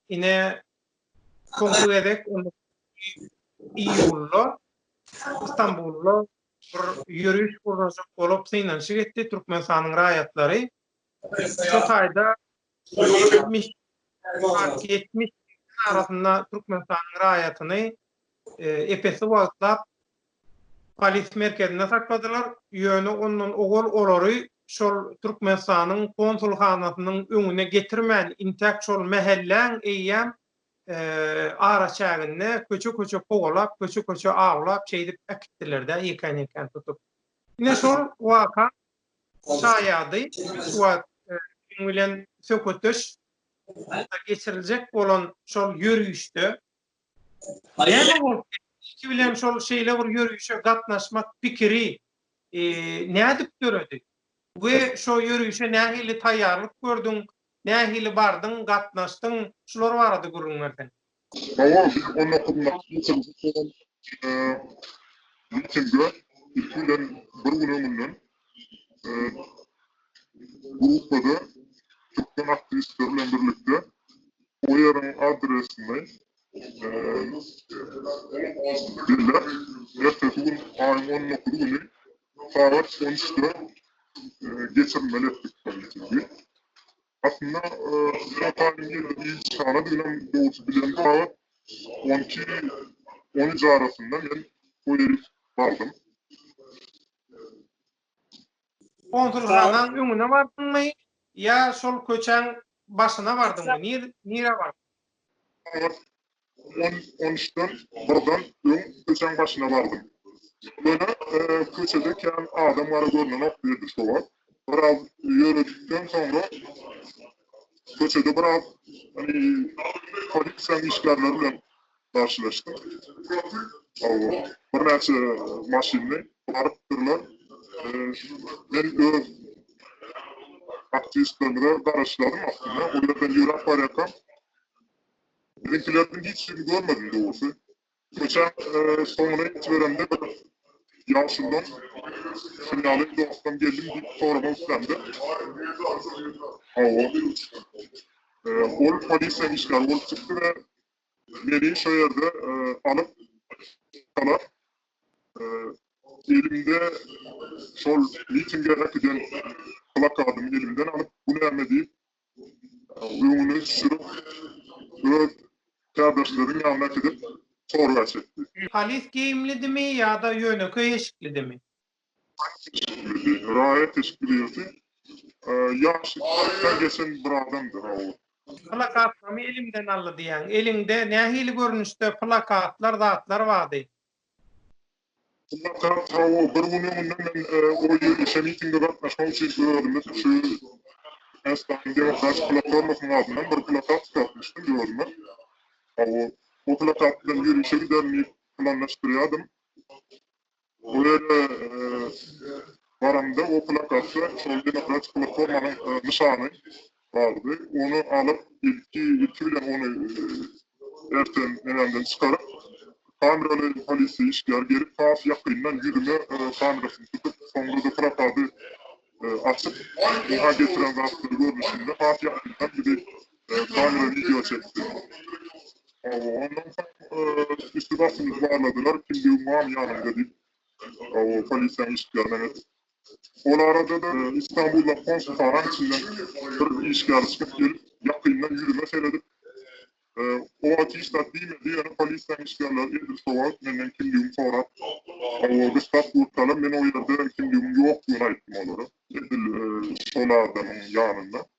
Ine, soňky gezek iýulda Stambulda bir ýöriş gurnajak bolup synanyşyk etdi Türkmenistanyň raýatlary. Şo taýda ýetmiş arasynda Türkmenistanyň raýatyny epesli wagtlap Polis merkezinde sakladylar, ýöne ondan owal olary şol Türkmenistanyň konsulhanasynyň öňüne getirmän, intäk şol mähelläň eýýäm araçäginde köçe-köçe kowalap, köçe-köçe awlap, şeýdip äkitdiler-dä, ýekän-ýekän tutup. Ine şol waka şaýady şu wagt biziň bilen söhbetdeş geçiriljek bolan şol ýörişde. Näme bolup Iki bilen şol şeýle bir ýörişe gatnaşmak pikiri e, nädip döredi? We şo ýörişe nähili taýýarlyk gördüň? Nähili bardyň, gatnaşdyň? Şular barada gürrüň berseň. Owal biz on dokuz mart geçirijek bolan e, mitinge ilki bilen bir gün öňünden Gruppada türkmen aktiwistleri bilen birlikde OYR-iň adresini belläp, ertesi gün, aýyň on dokuzy güni sagat on üçde geçirilmeli etdik bu mitiňi. Aslynda Ýuran taýynyň ýerli ilçihana diýlem dogruçy bilen zat on iki, on üç arasynda men toý edip bardym. Konsulhanaň öňüne bardyňmy ýa şol köçäň başyna bardyňmy? Nire bardyň? Ýalňyş on onüçden birden öň köçäň başyna bardym. Ýöne köçede kän adam gara görnenok diýdi şo wagt. Biraz ýöredikden soňra köçede biraz polisiýanyň işgärleri bilen garşylaşdym. Birnäçe maşynly baryp durlar. Men öz aktiwistlerimize garaşýardym aslynda. Ol ýerden ýöräp barýarkam, biziňkilerden hiç kimi görmedim dogrusy. Köçäň soňuna ýetiberemde bir ýaşuldan şuny ýaly dostdan geldim diýip soramak islämde, hawa, ol polisiýa işgäri bolup çykdy we Meni şo ýerde alyp çykdylar. Elimde şol mitinge äkiden plakadymy elimden alyp, bu näme diýip, öňüne sürüp, öz kärdeşleriň ýanyna äkidip, sorgaç etdi. Polis geýimlidimi ýa-da ýönekeý eşiklidimi? Raýat teşkil edýärsi. Ýaşy kyrkdan geçen bir adamdyr ha ol. Plakatlamy elimden aldy diýýäň. Eliňde nähili görnüşde plakatlar, zatlar bardy? Plakat hawa, bir gün öňünden men o ýörişe, mitinge gatnaşmak üçin özümiz şu Ähtisabyň demokratik platformasynyň adyndan bir plakat çykartmyşdym özüme. Hawa, o plakat bilen ýörişe giderin diýip planlaşdyrýardym. Bu ýere baramda, o plakatda şol demokratik platformanyň nyşany bardy. Ony alyp, ilki ilki bilen ony erten nämemden çykaryp, kameraly polisiýa işgäri gelip, has ýakyndan ýüzüme kamerasyny tutup, soňra-da plakady açyp, oňa getiren zatlary görnüşinde has ýakyndan bizi Kamera wideo çekdi. Ondan soň üsti-başymy barladylar, kimdigiň bamy ýanymda diýip, polisiýanyň işgärine aýtdy. Ol arada-da Istanbuldaky konsulhanaň içinden bir işgär çykyp gelip, ýakyndan ýüzüme seredip, O atişdat diýme diýeni polisiýanyň işgärleri edil şo wagt menden kimdigimi sorap, duşlap durkalam men o ýerde kimdigimiň ýokdugyny aýtdym olara. Edil şol adamyň ýanynda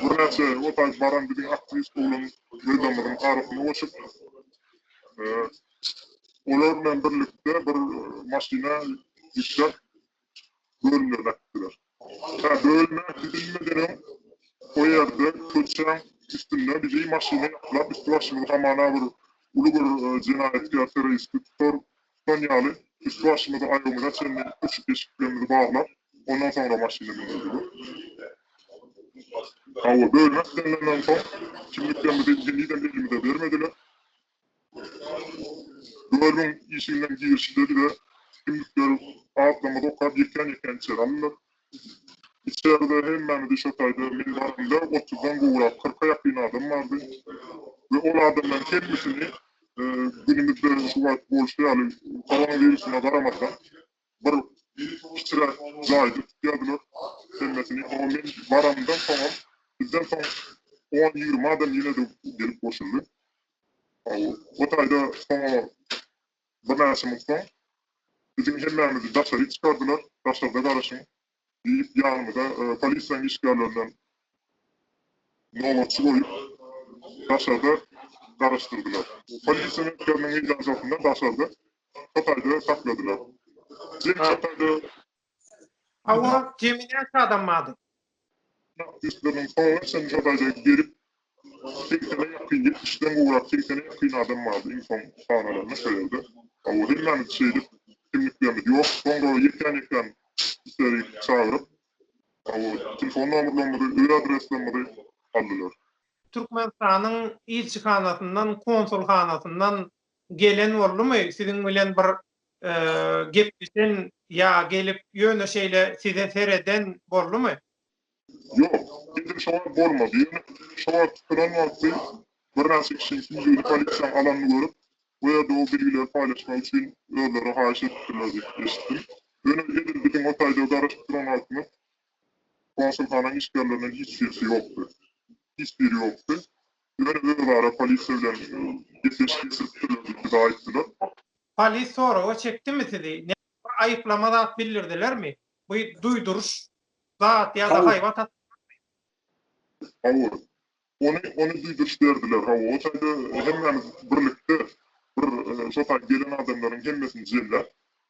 Birnäçe ýol saýyp baran biziň aktiwist oglan Rydamyzyň arasyna goşup, olar bilen birlikde bir maşyna ýükläp, bölümlerine äkitdiler. Hä, bölüme gidilmeden öň o ýerde köçäň üstünde bizi maşyna ýaplap, üsti-başymyzy hamana bir uly bir jenaýatkär-terroristi tutar Tutan ýaly, üst-başymyzy aýagymyza çenli öçüp eşiklerimizi baglap, ondan soňra maşyna mündirdiler. Hawa, bölüme islenilemden soň, kimliklerimizi henizem elimize bermediler. Bölümiň işiginden girişde bize kimlikleri, adlarymyzy okap, ýekän-ýekän içeri aldylar. Içerde hemmämizi şo taýda meni görende otuzdan gowrak, kyrka ýakyn adam bardy we ol adamlaryň hemmesini günümizde şu wagt bolşy ýaly koronawirusyna garamazdan bir kiçiräk jaýda tutýardylar hemmesini. Soňam men baranymdan soňam bizden soň on-ýigrimi adam ýene-de gelip goşuldy. O taýda soňa Birnäçe minut soň biziň hemmämizi daşaryk çykardylar, daşarda garaşyň diýip ýanymyza polisiýanyň işgärlerinden nobatçy goýup daşarda garaşdyrdylar. Polisiýa merkeziniň meýdançasynda daşarda şo taýda sakladylar. Jemi şo taýda Hawa, gemi näçe adam bardy? Uçak üstleriniň soňuna çenli ýagdaýda gelip, segsene ýakyn, ýetmişden gowrak, segsene ýakyn adam bardy, iň soň sanalanda şo ýerde. Hawa, hemmämiz şeýdip, kimliklerimiz ýok. Soňra ýekän-ýekän içeri çagyryp, hawa, telefon nomerlerimizi, öý adreslerimizi aldylar. Türkmenistanyň ilçihanasyndan, konsulhanasyndan Gelen boldumy siziň bilen bir gepleşen ýa gelip ýöne şeýle size sereden boldumy? Ýok, endilik şo wagt bolmady. Ýöne şo wagt tutulan wagty birnäçe kişi Süýjüni polisiýa alanyny görüp, bu ýerde o bilgileri paýlaşmak üçin özleri haýyş edipdirler diýip eşitdim. Ýöne edil biziň o taýda garaşyp duran wagtymyz konsulhananyň işgärlerinden hiç birisi ýokdy. Hiç biri ýokdy. Ýöne özara polisiýa bilen gepleşik geçiripdirler diýip aýtdylar. Polis soraga çekdimi sizi? Näme aýyplama zat bildirdilermi? Bu duýduryş zat ýa-da haýbat atdy Hawa. Ony, ony duýduryş berdiler. Hawa, o taýda hemmämiz birlikde bir şo taý gelen adamlaryň hemmesini jemläp,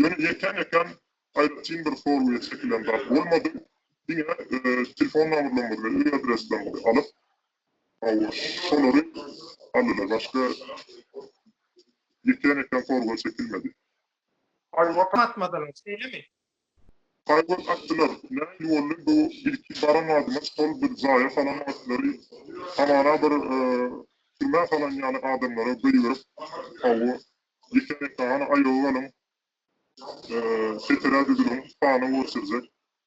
Ýöne ýeten ekem aýratyn bir sorgya çekilen zat bolmady. Diňe telefon nomerlerimizi we öý adreslerimizi alyp hawa şolary aldylar. Başga ýeten ekem sorgya çekilmedi. Paýwat atmadylar şeýlemi? Paýwat atdylar. Näme boldy bu ilki baran adyma şol bir jaýa salan atlary hamana bir türmä salan ýaly adamlara goýberip hawa Dikenek dagana aýaga galyň, çeperä düzüliň, hana görkezjek,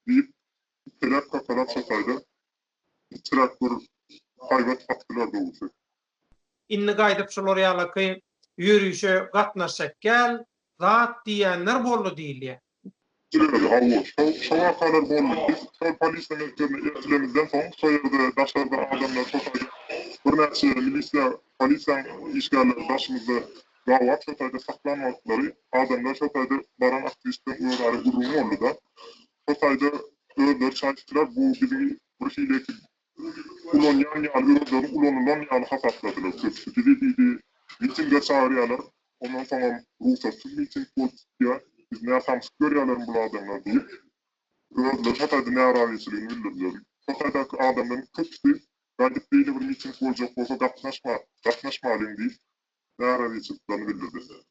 diýip, iteläp kakalap şotaýda içräk bir haýbat kakdylar dogusy. Indi gaýdyp şular ýalaky ýörişe gatnaşjak gäl zat diýýänler boldy diýilýär. Gülälek, Hawa, şo wakalar boldy. Biz şol polisiýa mekdebine eltilemizden soň, şo ýerde daşarda adamlar şotaýda birnäçe milisiýa, polisiýaň işgärleri daşymyzda gabap şotaýda saklan wagtlary adamlar şotaýda baran aktiwistleň özara gürrüňi boldy-da. Şotaýda özleri çaýyşdylar, bu biziň birhili ekip Ulanýan ýaly özleri ulanylan ýaly hasapladylar köpüsi bizi diýdi mitinge çagyrýalar ondan soňam rugsatsyz miting bolup çykýa biz nä samsyk görýälerin bul adamlar diýip özleri şo taýda närazyçylygyny bildirdiler şo taýdaky adamlaryň köpüsi gaýdyp beýle bir miting boljak bolsa gatnaşma gatnaşmalyň diýip narazhçylyklaryny bildirdiler.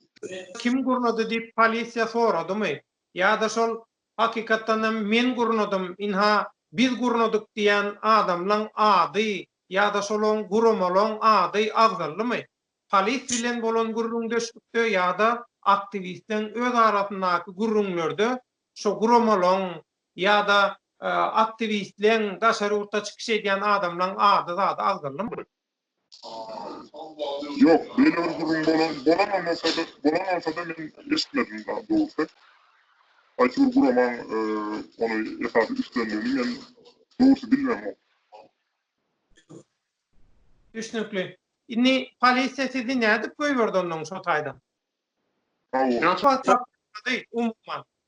Kim gurnady diýip polisiýa soradymy? Ýa-da şol hakykatdanam men gurnadym, ynha, biz gurnadyk diýýän adamlaň ady ýa-da şolaň guramalaň ady agzaldymy? Polis bilen bolan gürrüňdeşlikde ýa-da aktiwistleň öz arasyndaky gürrüňlerde şo guramalaň ýa-da aktiwistleň, daşary ýurtda çykyş edýän adamlaň ady-zady agzaldymy? Ýok, beýle bir gürrüň bolan bolanamasa-da, bolanamasa-da men eşitmedim dagy dogrusy. Haýsy bir guramaň ony esasy üstlendigini men dogrusy bilmemok. Düşnükli. Indi polisiýa sizi nädip goýberdi onnoň şo taýdan? Sag boluň. Näçe wagt saklady umuman?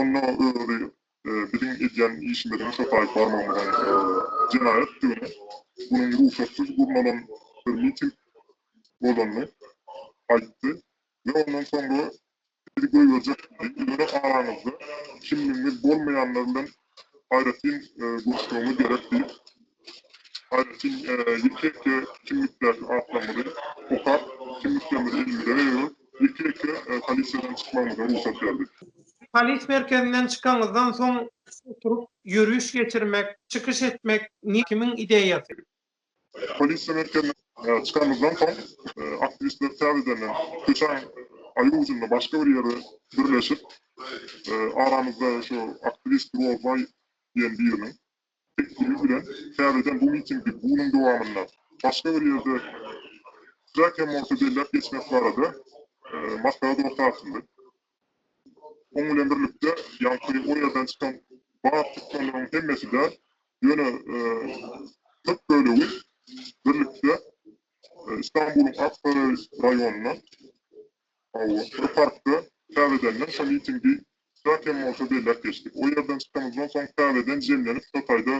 Onda özi biziň edýän işimiziň şapaýyp barmagymyzyň jenaýatdygyny, munuň rugsatsyz gurnalan bir miting bolanyny aýtdy we ondan soňra bizi goýberjek diýdi, ýöne araňyzda kimligiňiz bolmaýanlar bilen aýratyn guruşmagyna gerek diýip, aýratyn ýeke-ýeke kimlikdäki atlarymyzy okap, kimliklerimizi elimize berip, ýeke-ýeke polisiýadan çykmagymyza rugsat berdi. Polis merkezinden çykanyňyzdan soň oturyp ýöriş geçirmek, çykyş etmek kimiň ideýasy? Polisiýa merkezine çykanymyzdan soň, aktiwistler täzedenden köçäň aýry ujunda başga bir ýerde birleşip, aramyzda şu aktiwist Rozbaý diýen biriniň teklibi bilen täzeden bu mitingi günüň dowamynda başga bir ýerde kiçiräk hem bolsa belläp geçmek barada maslahat orta atyldy. Onuň bilen birlikde, ýaňky o ýerden çykan bar çykganlaryň hemmesi-de ýöne köp bölegi birlikde Istanbulyň Aksaray raýonynda, bir parkda täzedenden şo mitingi çak hem bolsa belläp geçdik. O ýerden çykanymyzdan soň täzeden jemlenip şo taýda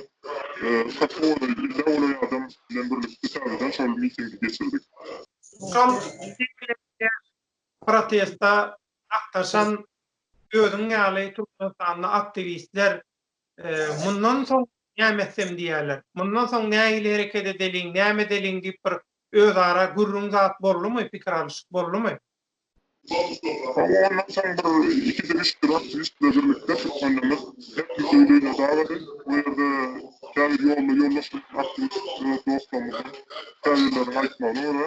köp owadan elli awlaý adam bilen birlikde täzeden şol mitingi geçirdik. Şol miting bilen birge Protestde gatnaşan özüň ýaly türkmenistanly aktiwistler mundan soň näme etsem diýýärler. Mundan soň nähili hereket edeliň, näme edeliň diýip bir özara gürrüň zat boldumy, pikir alyşyk boldumy? Howwa ondan soň bir iki bilişik bir aktiwist bilen birlikde türkmenlerimiz her kim öýli öýüne dagady. Bu ýerde käbir ýolda ýoldaş bolan aktiwist dostlarymyzyň käbirleriniň aýtmagyna görä,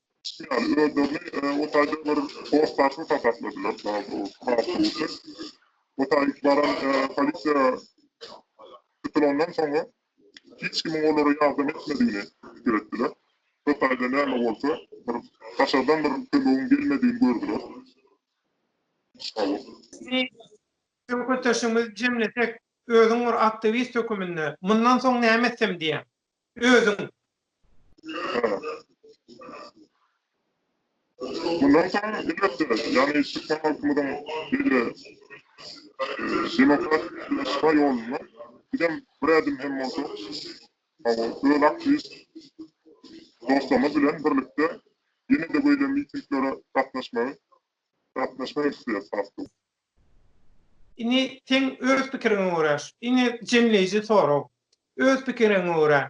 Ýaly, özlerini o taýda bir hossarsyz hasapladylar, daha dogrusy, hasuwçy. O taý baran polisiýa tutulandan soňra, hiç kimiň olara ýardam etmedigini pikir etdiler. Şo taýda näme bolsa, bir daşardan bir kömegiň gelmedigini gördüler. Sizi söhbetdeşimizi jemlesek, özüň bir aktiwist höküminde, mundan soň näme etsem diýýäň? özüň. Mundan soň elbetde, ýagny türkmen halkymyzyň beýle demokratik ýaşaýyş ýolunda bizem bir ädim hem bolsa öz aktiwist dostlarymyz bilen birlikde ýene-de beýle mitinglere gatnaşmagy gatnaşmak isleýäris has köp. Indi seň öz pikiriňe görä, indi jemleýji sorag, öz pikiriňe görä,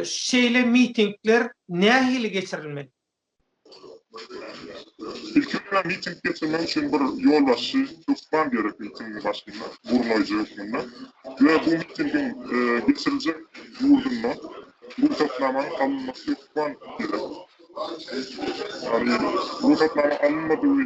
şeýle mitingler nähili geçirilmeli? Ilki bilen miting geçirmek üçin bir ýolbaşçy hökman gerek ilkinji başynda, gurnaýjy hökmünde we bu mitingiň geçiriljek ýurdunda rugsatnamanyň alynmasy hökman gerek. Ýagny rugsatnama alynmadygy.